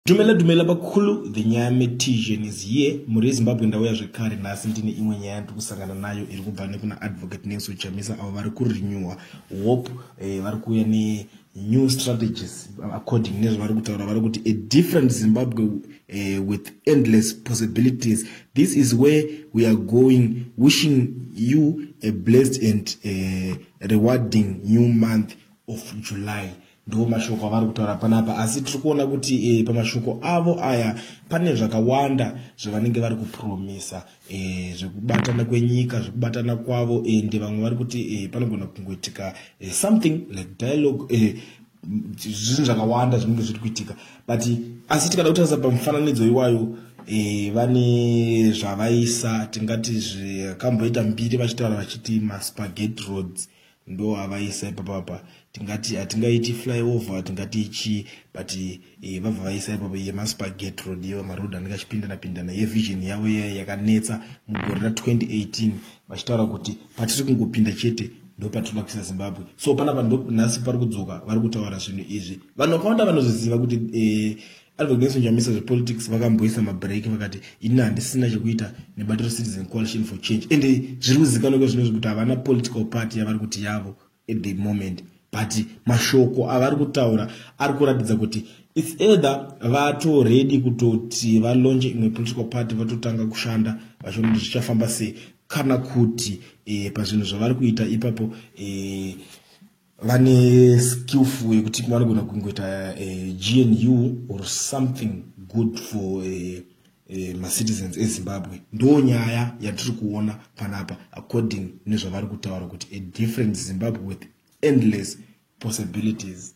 Dumela dumela bakulu the nyame tision is here muri ezimbabwe ndauya zvekare nhasi ndine imwe nyaya ndiri kusangana nayo iri kubva nekuna advocate nelso chamisa avo vari kurenewa hope eh, vari kuuya nenew strategies according nezvavari kutaura vari kuti a different zimbabwe eh, with endless possibilities this is where we are going wishing you a blessed and eh, rewarding new month of july ndo mashoko avari kutaura panapa asi tiri kuona kuti e, pamashoko avo aya pane zvakawanda zvavanenge vari kupromisa e, zvekubatana kwenyika zvekubatana kwavo ende eh, vamwe vari kuti e, panogona kungoitika e, something like dialogue e, zvinhu zvakawanda zvinenge zviri kuitika but asi tikada kutarisa pamufananidzo iwayo e, vane zvavaisa tingati zvakamboita mbiri vachitaura vachiti maspagate roads ndo avaisa ipapa apa tingati hatingaiti flyover tingati ichii but eh, vabva vaisa ipapa yemaspaget road yewa maroad anenge achipindana pindana yevision yavo iya yakanetsa mugore ra 2018 vachitaura kuti patiri kungopinda chete ndo patinoda kuisa zimbabwe so panapa ndo nhasi pari kudzoka vari kutaura zvinhu izvi vanhu vakawanda vanozoziva kuti eh, Advocates Njamisa zvepolitics vakamboisa mabreak vakati ini handisina chekuita nebato recitizen coalition for change and zviri kuzikanwa kwezvinozvi kuti havana political party yavari kuti yavo at the moment but mashoko avari kutaura ari kuratidza kuti its either vatoredi kutoti valonje imwe political party vatotanga kushanda vachiona kuti zvichafamba sei kana kuti e, pazvinhu zvavari kuita ipapo e, vane skillful yekuti vanogona kungoita eh, gnu or something good for eh, eh, macitizens ezimbabwe ndo nyaya yatiri kuona panapa according nezvavari kutaura kuti a different zimbabwe with endless possibilities